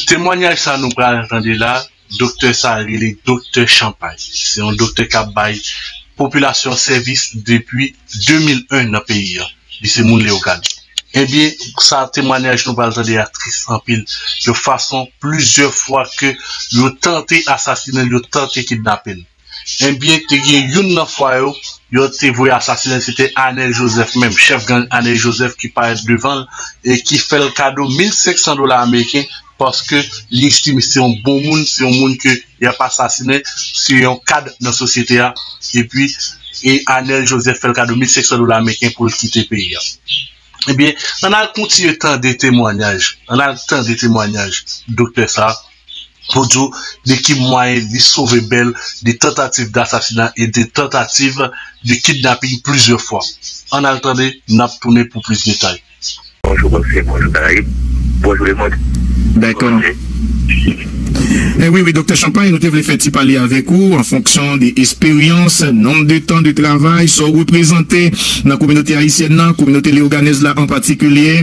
Temwanyaj sa nou pral tande la, doktè sa rele doktè chanpay. Se yon doktè kap bay popilasyon an sèvis depi 2001 nan peyi an. Li se moun Leyogàn. Ebyen sa temwanyaj nou pral tande a tris anpil yon fason plizyè fwa ke yo tante asasinenl, yo tante kidnapel. Ebyen te gen youn nan fwa yo yo te voye asasinen se te Anel Joseph menm, chèf gang Anel Joseph ki parèt devan l e ki fè l kado 1500 dola ameriken paske li estime se yon bon moun, se yon moun ke y ap asasinen, se yon kad nan sosyete a epi e Anel Joseph fè l kado 1500 dola ameriken pou l kite peyi a. Ebyen ann al kontinye tande temwanyaj, ann al tande temwanyaj doktè sa. pou di w de ki mwayen li sove bèl de tantativ dasasina e de tantativ de kidnaping plizyè fwa. Ann al tande, n ap tounen pou plis detay. Bonjou Bonsye, bonjou Karayib, bonjou lemond, bonjou Ayiti. Wi, wi Doktè Chanpay, nou te vle fè ti pale avèk ou an fonksyon de esperyans, nonb de tan de travay, sa w reprezante nan kominote ayisyèn nan, kominote leyoganèz la an patikilye.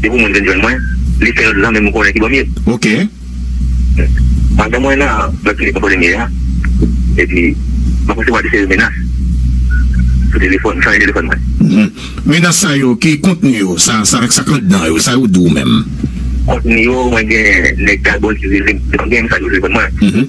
Se pou moun vin jwenn mwen. Li fè lòt zanmi m konnen ki bò m ye. Ok. Pandan mwen nan lòt klinik mwen konnen m ye a, epi mwen resevwa de seri menas sou telefòn, m chanje telefòn mwen. Menas sa yo, ki kontni yo? Sa k anndan yo? Sa yo di w menm? Kontni yo, mwen gen nèg Gagòl ki rele m. Depi m gen mesaj yo telefòn mwen.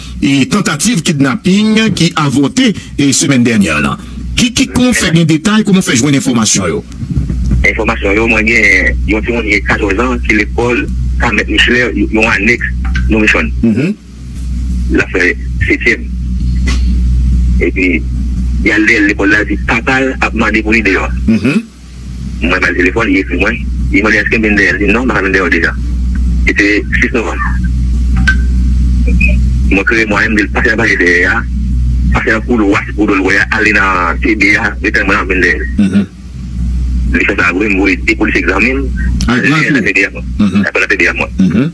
e tantativ kidnaping ki avòte semèn dènyè lan. Ki ki kon fè gen detay, kouman w fè jwenn enfòmasyon yo? Enfòmasyon yo, mwen gen yon timoun ki gen 14 an ki lekòl Carmette Micheler, yon anèks Nourishon. L ap fè setyèm. Epi, y al dèyè l lekòl la, l di papa l ap mande pou li deyò. Mwen ba l telefòn, li ekri mwen, li mande èske m vin dèyè l, li di m non, m pa ka vin dèyè w deja. Li te 6 novanm. Mwen kreye mwayen m di l pase nan pale dèyè a, pase nan koulwa a se kou do l wè a, ale nan TB a, retèn mwen la m vin dèyè l. Li fè sa vre, m voye 2 polisye egzame m, ale nan TB a mwen.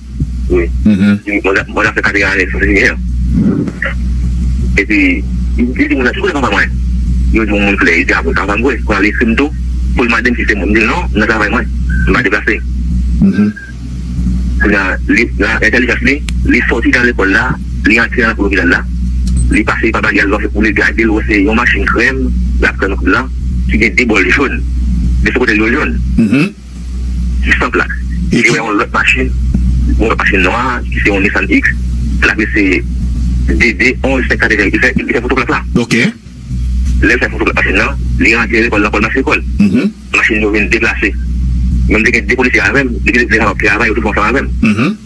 Wi Di bon zafè bon zafè Kabeer Alex se ye Epi Li di moun nan si kote papa mwen Yo di yon moun klè Li di a bon sa papa m vre Kounye a li ekri m tou Pou l mande m si se mwen M di l non m nan travay mwen M pa deplase Kounye a li nan entèlijans li Li sòti nan lekòl la Li antre nan lopital la Li pase li papa li al vèfè pou li gade l wè se yon machin krèm L ap krèm kout lan Ki gen 2 bòl jòn Men sou kote l yo jòn. distant la li wè yon lòt machin yon lòt machin nwa ki se yon Nissan X l ap rele DD 11 500 li fè foto plak la ok lè l fè foto plak machin nan li rantre lekòl nan kòl mas lekòl machin yo vin deplase mwen m te gen 2 polisye avè m depi lè m t travay yo tout fè ansanm avè m.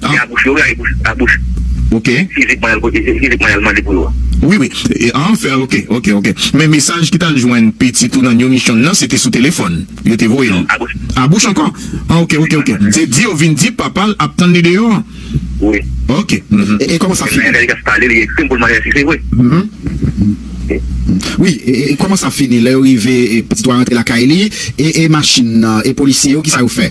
Se a bouch yo wi a e bouch a bouch ok fizikman yal kote fizikman yal mande pou yo a. Wi wi e an fè ok ok ok men mesaj ki tal jwenn pitit ou nan new mission nan se te sou telefòn yo te voye l a bouch a bouch ankò an ok ok ok se di yo vin di papa l ap tann li deyò an wi ok e kòman sa fini lè yas pale li ekri m pou l mande si se vre wi e kòman sa fini lè yo rive pitit ou a rantre lakay li e e machin nan e polisye yo kisa yo fè.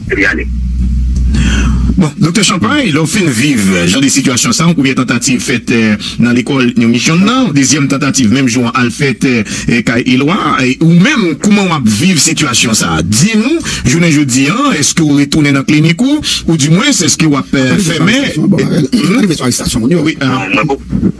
Epi ale. Bon, Doktè Champagne, lè w fin viv jan de sitiyasyon sa, yon premye tantativ fèt nan lekòl New Mission nan, yon dezyèm tantativ menm jou an al fèt kay Eloi. Ou menm, kouman w ap viv sitiyasyon sa? Di nou, jounen jodi a, èske w retounen nan klinik ou? Ou di mwens, èske w ap fèmen? Mwen pa rive sou arestasyon moun yo. Mwen poko.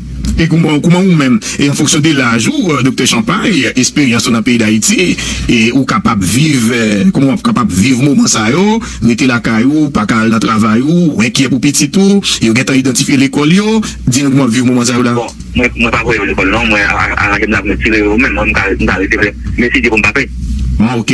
E kouman ou menm, e an fonksyon de laj ou Doktè Champagne, esperyans ou nan peyi Dayiti, e ou kapab viv, kouman wap kapab viv moman sa yo, rete lakay ou, ou pa ka al nan travay ou, ou enkyè pou pitit ou, yo gentan idantifye lekòl yo, di nou kouman wap viv moman sa yo la? Bon, mwen pa voye yo lekòl non, mwen aranjem nan pou mwen tire yo menm, mwen m ka rete vre, men si Dye vle m pa pe. Ah ok.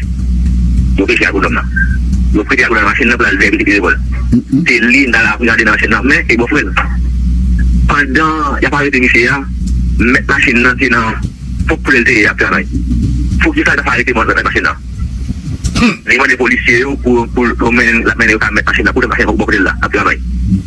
Yo peche ak ou lòm nan. Yo prete ak ou nan machin nan pou l'al vèvite pi revòl. Se li m'ta la pou gade nan machin nan men e bon frèl. Pandan y'ap arete misye a, mèt machin nan te nan pwòp koulè'l te ye ap travay. Poukisa yo pa arete mòn mèt machin nan? Li mande polisye yo pou yo mennen l'ap mennen yo ka mèt machin nan pou lòt machin nan pwòp koulè'l la ap travay.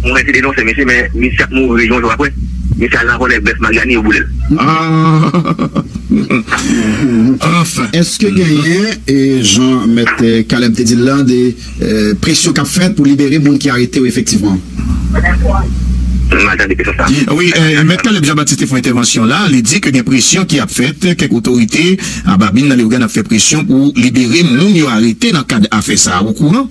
Mwen mèsi denonse misye men misye ap mouri yon jou apre misye al nan vòlè bèf Mariani yo boulel. Anfen, èske genyen, jan mèt Caleb te di l lan, de presyon k ap fèt pou libere moun ki arete yo efektivman? M mal tande kesyon sa. Wi, mèt Caleb Jean Baptiste te fè yon entèvansyon la, li di ke gen presyon ki ap fèt, kèk otorite a babin nan Leogane ap fè presyon pou libere moun yo arete nan kad afè sa a, ou kouran?